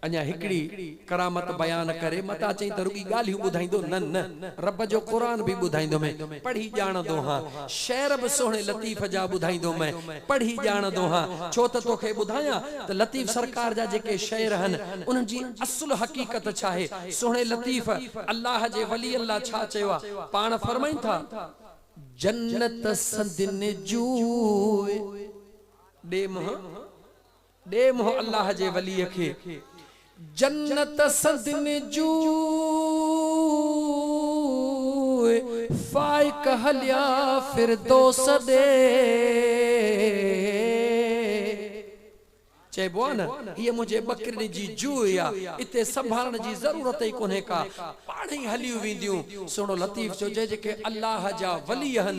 اڃا هڪڙي ڪرامت بيان ڪري متان چئين ته رڳي ڳالهيون ٻڌائيندو نه نه رب جو قرآن به ٻڌائيندومين پڙهي ڄاڻندو هان شعر به سهڻي لطيف جا ٻڌائيندو مين پڙهي ڄاڻندو هان ڇو ته توکي ٻڌايان ته لطيف سرڪار جا جيڪي شعر هن انهن جي اصل حقيقت ڇاهي سهڻي لطيف الله جي ولين لا ڇا چيو آ پاڻ فرمائن ٿا. جنت سندين جوء ڏي منهن. ڏي منهن الله جي وليء کي. جنت سندن جوء فائق هليا فردوس ڏي. چئبو آهي نه هيء منهنجي ٻڪرين جي جوء آ، اتي سنڀالڻ جي ضرورت ئي ڪونهي ڪا، پاڻهئي هليون وينديون. سهڻو لطيف چيو جي جيڪي الله جا ولي آهن،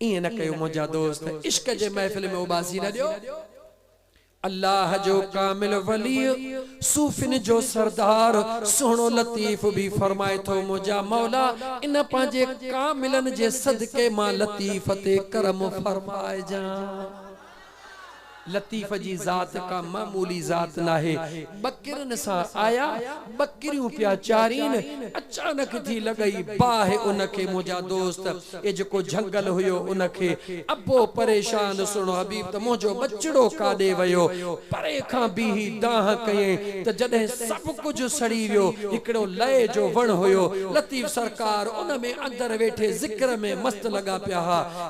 ائين نه ڪيو منهنجا دوست، عشق جي محفل ۾ اوٻاسي نه ڏيو. الله جو ڪامل ولي، صوفين جو سردار سهڻو لطيف به فرمائي ٿو منهنجا مولا ان پنهنجي ڪاملن جي صدقي مان لطيف تي ڪرم فرمائجان. لطيف جي ذات ڪا معمولي ذات ناهي. ٻڪرين سان آيا، ٻڪريون پيا چارين، اچانڪ ٿي لڳئي باهه ان کي منهنجا دوست، اي جيڪو جهنگل هيو ان کي، ابو پريشان سهڻو حبيب ته منهنجو ٻچڙو ڪاڏي ويو؟ پري کان بيهي دانهن ڪيائين ته جڏهن سڀ ڪجهه سڙي ويو، هڪڙو لئي جو وڻ هيو، لطيف سرڪار ان ۾ اندر ويٺي ذڪر ۾ مست لڳا پيا ها.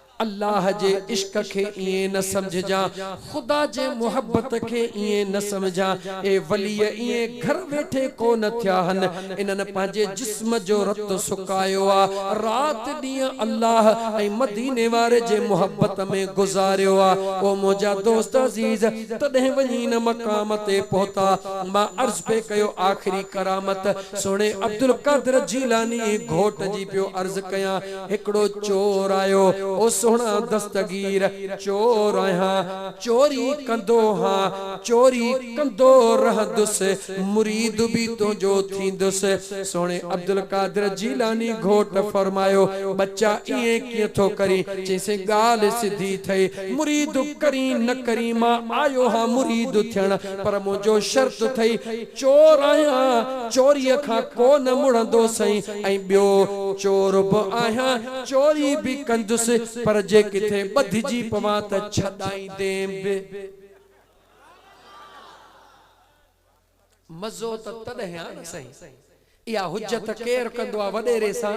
الله جي عشق کي ائين نه سمجهجان، خدا جي محبت کي ائين نه سمجهان، اهي ولي ائين گهر ويٺي ڪو نه ٿيا هن، انهن پنهنجي جسم جو رت سڪايو آ، رات ڏينهن الله ۽ مديني واري جي محبت ۾ گذاريو آ، او منهنجا دوست عزيز! تڏهن وڃي ان مقام تي پهتا، مان عرض پئي ڪيو آخري ڪرامت سهڻي عبدالقادر جيلاني گهوٽ جي پيو عرض ڪيان، هڪڙو چور آيو، او سهڻا دستگير، چور آهيان، چوري ڪندو ها، چوري ڪندو رهندس، مريد به تنهنجو ٿيندس. سهڻي عبدالقادر جيلاني گهوٽ فرمايو، ٻچا ائين ڪيئن ٿو ڪرين؟ چيسين ڳالهه سڌي ٿئي، مريد ڪرين نه ڪرين، مان آيو ها مريد ٿيڻ، پر منهنجو شرط ٿئي، چور آهيان چوريء کان ڪو نه مڙندو سائين ۽ ٻيو چور به آهيان چوري به ڪندس پر جي ڪٿي ٻڌجي پوان ته ڇڏائيندين به. مزو ته تڏهن آ نه سائين. اها حجت ڪير ڪندو آ وڏيري سان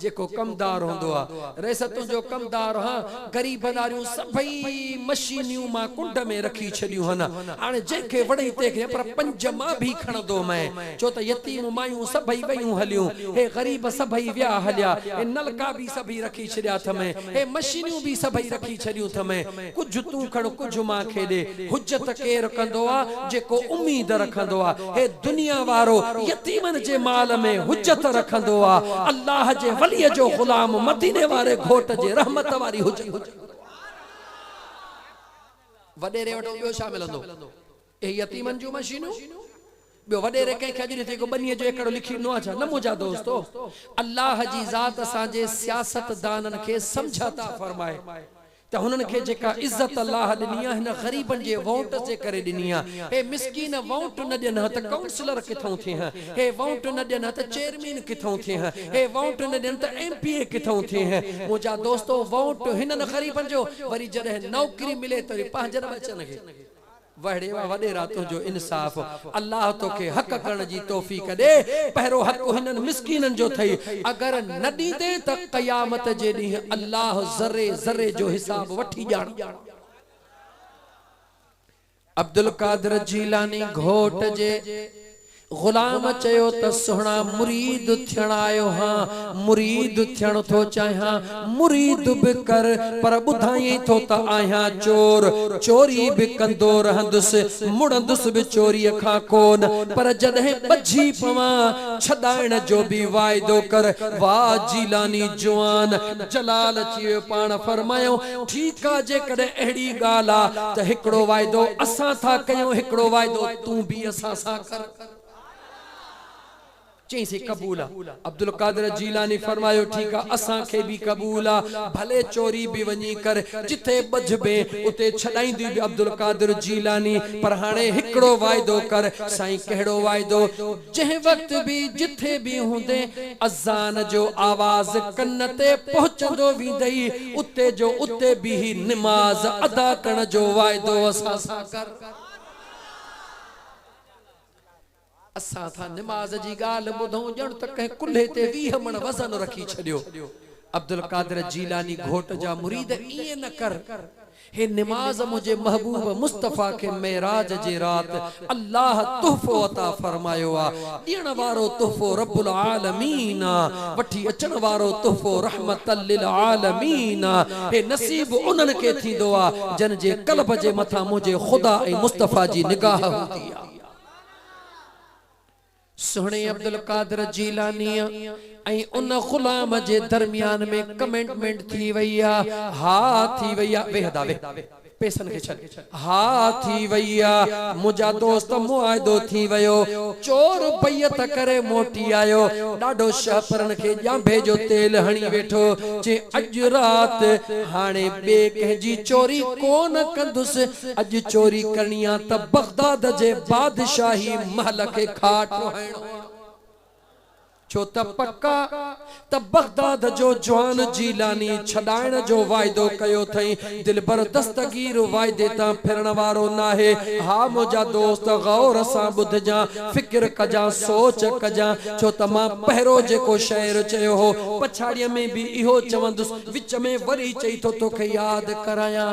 جيڪو ڪمدار هوندو آ رئيس تنهنجو ڪمدار هان غريبن آريون سڀئي مشينيون مان ڪنڊ ۾ رکي ڇڏيون هن هاڻي جنهن کي وڻئي تنهن کي پر پنج مان ڀي کڻندو مئي ڇو ته يتيم مايون سڀئي ويون هليون هي غريب سڀئي ويا هليا هي نلڪا ڀي سڀئي رکي ڇڏيا ٿمئي هي مشينيون ڀي سڀئي رکي ڇڏيون ٿمئي ڪجهه تون کڻ ڪجهه مان کي ڏي. حجت ڪير ڪندو آ جيڪو اميد رکندو آ. هي دنيا وارو يتيمن جي مال ۾ حجت رکندو آ. الله جي ولي جو غلام مديني واري گهوٽ جي رحمت واري حجت رکندو آ. وڏيري وٽ ٻيو ڇا ملندو؟ اهي يتيمن جون مشينون؟ ٻيو وڏيري ڪنهن کي اڄ ڏٺئي ڪو ٻنيء جو ايڪڙو لکي ڏنو آهي ڇا؟ نه منهنجا دوستو! الله جي ذات اسان جي سياستدانن کي سمجهه عطا فرمائي ته هنن کي جيڪا عزت الله ڏني آهي هن غريبن جي وونٽس جي ڪري ڏني آهي. هي مسڪين وونٽ نه ڏين ها ته ڪائونسلر ڪٿئون ٿئين ها؟ هي وونٽ نه ڏين ها ته چيئرمين ڪٿئون ٿئين ها؟ هي وونٽ نه ڏين ته ايم پي اي ڪٿئون ٿئين ها؟ منهنجا دوستو! وونٽ هنن غريبن جو وري جڏهن نوڪري ملي ته وري پنهنجن ٻچن کي وهڙي واه وڏيرا تنهنجو انصاف الله توکي حق ڪرڻ جي توفيق ڏي پهرو حق هنن مسڪينن جو ٿئي اگر نه ڏيندين ته قيامت جي ڏينهن الله ذري ذري جو حساب وٺي ڄاڻ. عبدالقادر جيلاني گهوٽ جي. غلام چيو ته سهڻا مريد ٿيڻ آيو هان، مريد ٿيڻ ٿو چاهيان، مريد به ڪر، پر ٻڌايئين ٿو ته آهيان چور، چوري به ڪندو رهندس، مڙندس به چوريء کان ڪونه، پر جڏهن ٻجهي پوان، ڇڏائڻ جو به واعدو ڪر، واء جيلاني جوان! جلال اچي ويو، پاڻ فرمايائون، ٺيڪ آ، جيڪڏهن اهڙي ڳالهه آ ته هڪڙو واعدو اسان ٿا ڪيون، هڪڙو واعدو. تون به اسان سان ڪر. چئين سي قبول آ. عبدالقادر جيلاني فرمايو ٺيڪ آ اسان کي به قبول آ ڀلي چوري به وڃي ڪر جتي ٻڌبين اتي ڇڏائيندين به عبدالقادر جيلاني پر هاڻي هڪڙو واعدو ڪر سائين ڪهڙو واعدو جنهن وقت به جٿي به هوندين اذان جو آواز ڪن تي پهچندو ويندئي اتي جو اتي بيهي نماز ادا ڪرڻ جو واعدو اسان سان ڪر. اسان ٿا نماز جي ڳالهه ٻڌون ڄڻ ته ڪنهن ڪلهي تي ويهه مڻ وزن رکي ڇڏيو. عبدالقادر جيلاني گهوٽ جا مريد ائين نه ڪر. هي نماز منهنجي محبوب مصطفيٰ کي معراج جي رات الله تحفو عطا فرمايو آ. ڏيڻ وارو تحفو رب العالمين آ، وٺي اچڻ وارو تحفو رحمة للعالمين آ، هي نصيب انهن کي ٿيندو آ، جن جي قلب جي مٿان منهنجي خدا ۽ مصطفيٰ جي نگاهه هوندي آ. سهڻي عبدالقادر جيلانيء ۽ ان غلام جي درميان ۾ ڪمينٽمينٽ ٿي وئي آ، ها ٿي وئي آ، ويهه ادا ويهه. پيسن کي ڇڏ. ها ٿي وئي آ. منهنجا دوست معاهدو ٿي ويو. چور بيعت ڪري موٽي آيو. ڏاڍو شهپرن کي ڄانڀي جو تيل هڻي ويٺو. چي اڄ رات هاڻي ٻي ڪنهن جي چوري ڪو نه ڪندس. اڄ چوري ڪرڻي آ ته بغداد جي بادشاهي محل کي کاٽ ٺوهائڻو آ. ڇو ته پڪ آ ته بغداد جو جوان جيلاني ڇڏائڻ جو واعدو ڪيو ٿئين، دلبر دستگير واعدي تان ڦرڻ وارو ناهي. ها منهنجا دوست غور سان ٻڌجان، فڪر ڪجان، سوچ ڪجان، ڇو ته مان پهرو جيڪو شعر چيو هو، پڇاڙيء ۾ به اهو چوندس، وچ ۾ وري چئي ٿو توکي ياد ڪرايان،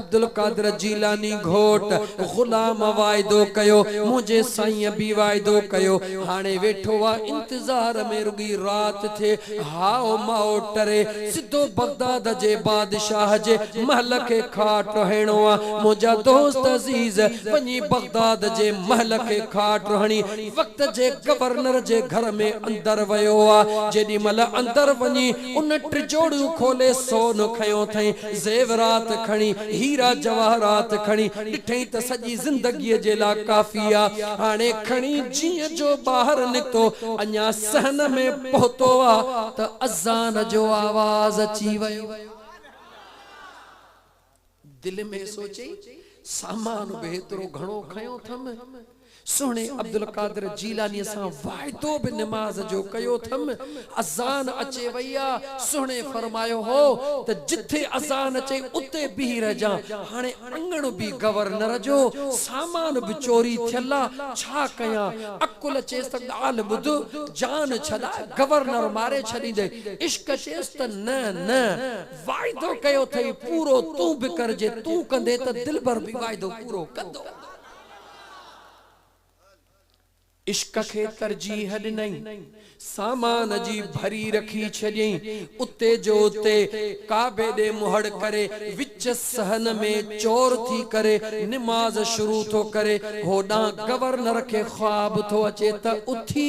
عبدالقادر جيلاني گهوٽ غلام واعدو ڪيو منهنجي سائينء به واعدو ڪيو هاڻي ويٺو آ انتظار ۾ رڳي رات ٿئي هائو مائو ٽري سڌو بغداد جي بادشاهه جي محل کي کاٽ هڻڻو آ منهنجا دوست عزيز وڃي بغداد جي محل کي کاٽ هڻي وقت جي گورنر جي گهر ۾ اندر ويو آ جيڏي مهل اندر وڃي ان ٽجوڙيون کولي سون کنيو ٿئين، زيورات کڻي، هيرا جواهرات کڻي، ڏٺئين ته سڄي زندگيء جي لا ڪافي آ. هاڻي کڻي جيئن جو ٻاهر نڪتو، اڃا صحن ۾ پهتو آ ته اذان جو آواز اچي ويو. دل ۾ سوچي سامان به ايترو گهڻو کنيو ٿم، سهڻي عبدالقادر جيلانيء سان واعدو به نماز جو ڪيو ٿم، اذان اچي وئي آ، سهڻي فرمايو هو ته جتي اذان اچي اتي بيهي رهجان، هاڻي اڱڻ به گورنر جو، سامان به چوري ٿيل آ، ڇا ڪيان؟ عقل چيس ته ڳالهه ٻڌ، جان ڇڏاء، گورنر ماري ڇڏيندين، عشق چيس ته نه نه، واعدو ڪيو اٿئي پورو تون به ڪر جي تون ڪندي ته دلبر به واعدو پورو ڪندو. عشق کي ترجيح ڏنئين سامان جي ڀري رکي ڇڏيئين اتي جو اتي ڪعبي ڏي منهڙ ڪري وچ صحن ۾ چور ٿي ڪري نماز شروع ٿو ڪري هوڏانهن گورنر کي خواب ٿو اچي ته اٿي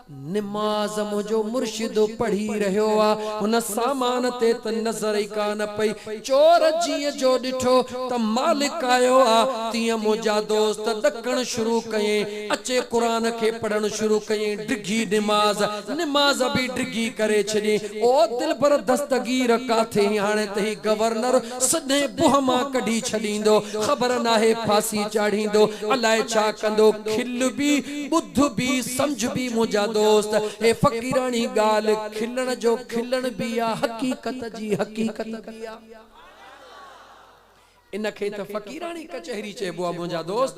نماز منهنجو مرشد پڙهي رهيو آ، هن سامان تي ته نظر ئي ڪانه پئي، چور جيئن جو ڏٺو ته مالڪ آيو آ، تيئن منهنجا دوست ڏڪڻ شروع ڪيئين، اچي قرآن کي پڙهڻ شروع ڪيئين، ڊگهي نماز، نماز به ڊگهي ڪري ڇڏيئين، او دلبر دستگير ڪاٿي هين هاڻي ته هي گورنر سدين بوهه مان ڪڍي ڇڏيندو، خبر ناهي ڦاسي چاڙهيندو، الاء ڇا ڪندو، کل بي، ٻڌ بي، سمجهه بي منهنجا دوست، هي فقيراڻي ڳالهه، کلڻ جو کلڻ بي آ، حقيقت جي حقيقت بي آ. ان کي ته فقيراڻي ڪچهري چئبو آ منهنجا دوست،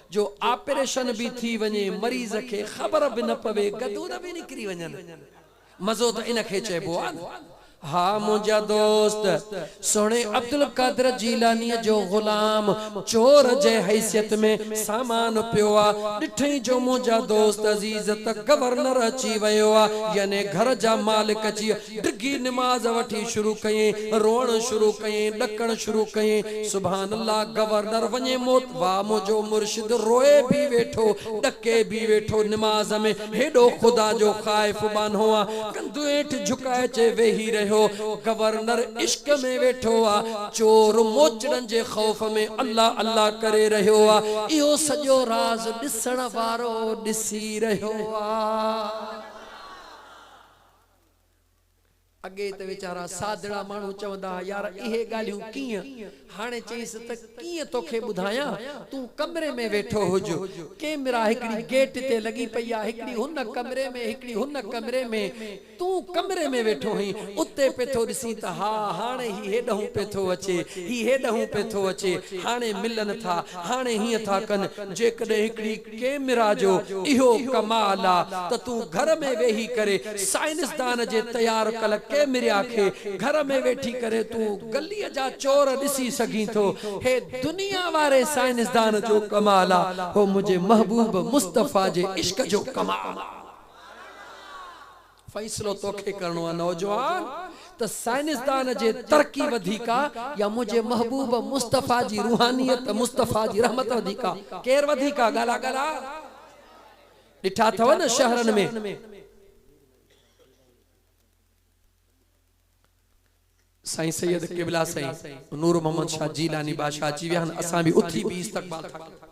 جو آپريشن بي ٿي وڃي، مريض کي خبر به نه پوي، گدود بي نڪري وڃن. مزو ته ان کي چئبو آ نه. ها منهنجا دوست، سهڻي عبدالقادر جيلانيء جو غلام چور جي حيثيت ۾ سامان پيو آ، ڏٺئين جو منهنجا دوست عزيز ته گورنر اچي ويو آ، يعني گهر جا مالڪ اچي ڊگهي نماز وٺي شروع ڪيائين، روئڻ شروع ڪيائين، ڏڪڻ شروع ڪيائين، سبحان الله گورنر وڃي موت، واهه منهنجو مرشد روئي به ويٺو، ڏڪي به ويٺو، نماز ۾ هيڏو خدا جو خائف ٻانهو آ، ڪنڌ هيٺ جهڪائي چي ويهي رهيو. گورنر عشق ۾ ويٺو آ، چور موچڙن جي خوف ۾ الله الله ڪري رهيو آ، اهو سڄو راز ڏسڻ وارو ڏسي رهيو آ. اڳي ته ويچارا سادڙا ماڻهو چوندا ها يار اهي ڳالهيون ڪيئن؟ هاڻي چئينس ته ڪيئن توکي ٻڌايان، تون ڪمري ۾ ويٺو هج. ڪيمرا هڪڙي گيٽ تي لڳي پئي آ، هڪڙي هن ڪمري ۾ هڪڙي هن ڪمري ۾، تون ڪمري ۾ ويٺو هئين، اتي پئي ٿو ڏسين ته ها هاڻي هي هيڏهون پئي ٿو اچي، هي هيڏهون پئي ٿو اچي، هاڻي ملن ٿا، هاڻي هيئن ٿا ڪن، جيڪڏهن هڪڙي. ڪيمرا جو اهو ڪمال آ ته تون گهر ۾ ويهي ڪري سائنسدان جي تيار ڪل ڪيمريا کي گهر ۾ ويٺي ڪري تون گلي جا چور ڏسي سگهين ٿو هي دنيا واري سائنسدان جو ڪمال آ هو منهنجي محبوب مصطفيٰ جي عشق جو ڪمال آ. فيصلو توکي ڪرڻو آ نوجوان ته سائنسدان جي ترقي وڌيڪ آ يا منهنجي محبوب مصطفيٰ جي روحانيت مصطفيٰ جي رحمت وڌيڪ آ ڪير وڌيڪ آ ڳالهه آ ڳالهه آ ڏٺا اٿو نه شهرن ۾ سائين سيد قبلا سائين نور محمد شاھ جيلاني بادشاھ اچي ويا آھن اسان به اٿي بيھي استقبال ٿا ڪريون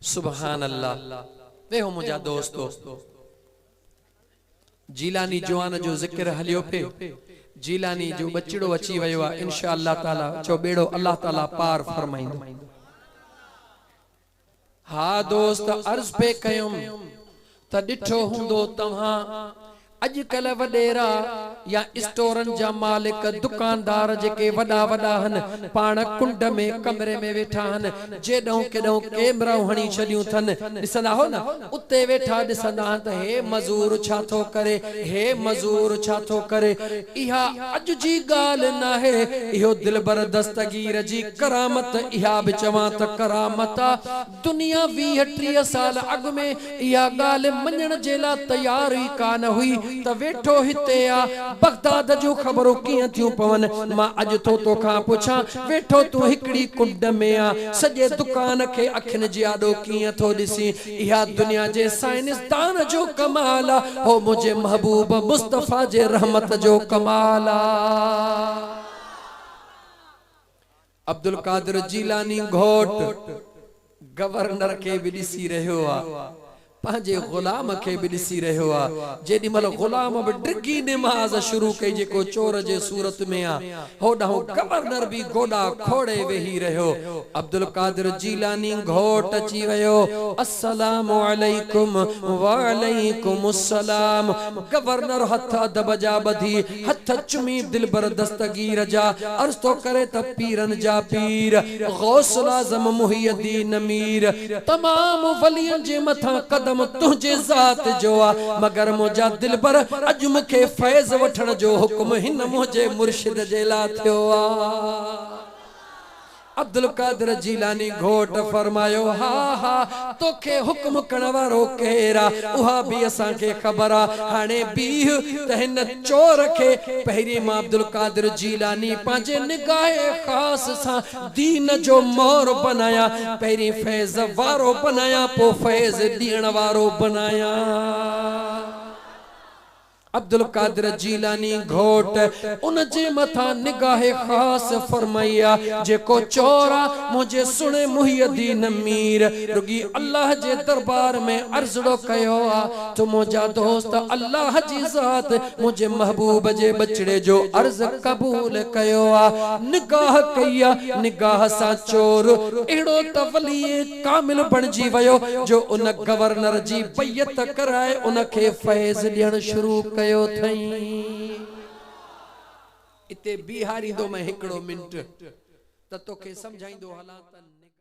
سبحان الله اي هو منهنجا دوستو جيلاني جوان جو ذڪر هليو پئي جيلاني جو ٻچڙو اچي ويو آ انشاء الله تعالي چئو ٻيڙو الله تعالي پار فرمائيندو ها دوست عرض پئي ڪيم ته ڏٺو هوندو توهان اڄڪلهه وڏيرا يا اسٽورن جا مالڪ دڪاندار جيڪي وڏا وڏا هن پاڻ ڪنڊ ۾ ڪمري ۾ ويٺا هن جيڏهون ڪيڏهون ڪيمرائون هڻي ڇڏيون ٿن ڏسندا هو نه اتي ويٺا ڏسندا هن ته هي مزور ڇا ٿو ڪري هي مزور ڇا ٿو ڪري اها اڄ جي ڳالهه ناهي اهو دلبر دستگير جي ڪرامت اها به چوان ته ڪرامت آ دنيا ويهه ٽيهه سال اڳ ۾ اها ڳالهه مڃڻ جي لا تيار ئي ڪانه هئي ته ويٺو هتي آ، بغداد جون خبرون ڪيئن ٿيون پون. مان اڄ ٿو تو کان پڇان، ويٺو تون هڪڙي ڪنڊ ۾ آ، سڄي دڪان کي اکين جي آڏو ڪيئن ٿو ڏسين. اها دنيا جي سائنسدان جو ڪمال آ، هو منهنجي محبوب مصطفيٰ جي رحمت جو ڪمال آ. عبدالقادر جيلاني گهوٽ گورنر کي به ڏسي رهيو آ، پنهنجي غلام کي به ڏسي رهيو آ، جيڏي مهل غلام به ڊگهي نماز شروع ڪئي جيڪو چور جي صورت ۾ آ، هوڏانهن گورنر به گوڏا کوڙي ويهي رهيو، عبدالقادر جيلاني گهوٽ اچي ويو، السلام عليڪم، وعليڪم السلام، گورنر هٿ ادب جا ٻڌي، هٿ چمي دلبر دستگير جا عرض ٿو ڪري ته پيرن جا پير غوث الاعظم محي الدين مير تمام ولين جي مٿان قدم تنهنجي ذات جو آ مگر منهنجا دلبر اڄ مون کي فيض وٺڻ جو حڪم هن منهنجي مرشد جي لا ٿيو آ. عبدالقادر جيلاني گهوٽ فرمايو، ها ها، توکي حڪم ڪرڻ وارو ڪير آ، اها به اسان کي خبر آ، هاڻي بيهه ته هن چور کي پهرين مان عبدالقادر جيلاني پنهنجي نگاه خاص سان دين جو مور بنايان، پهرين فيض وارو بنايان، پوء فيض ڏيڻ وارو بنايان. عبدالقادر جيلاني گهوٽ ان جي مٿان نگاهه خاص فرمائي آ، جيڪو چور آ، منهنجي سهڻي محي الدين مير رڳي الله جي دربار ۾ عرضڙو ڪيو آ، تو منهنجا دوست الله جي ذات منهنجي محبوب جي ٻچڙي جو عرض قبول ڪيو آ، نگاهه ڪئي آ، نگاهه سان چور اهڙو ته ولي ڪامل بڻجي ويو جو ان گورنر جي بيعت ڪرائي ان کي فيض ڏيڻ شروع ڪيو ٿئين. اتي بيهاريندومئين هڪڙو منٽ ته توکي سمجهائيندو هلان ته نڪاح.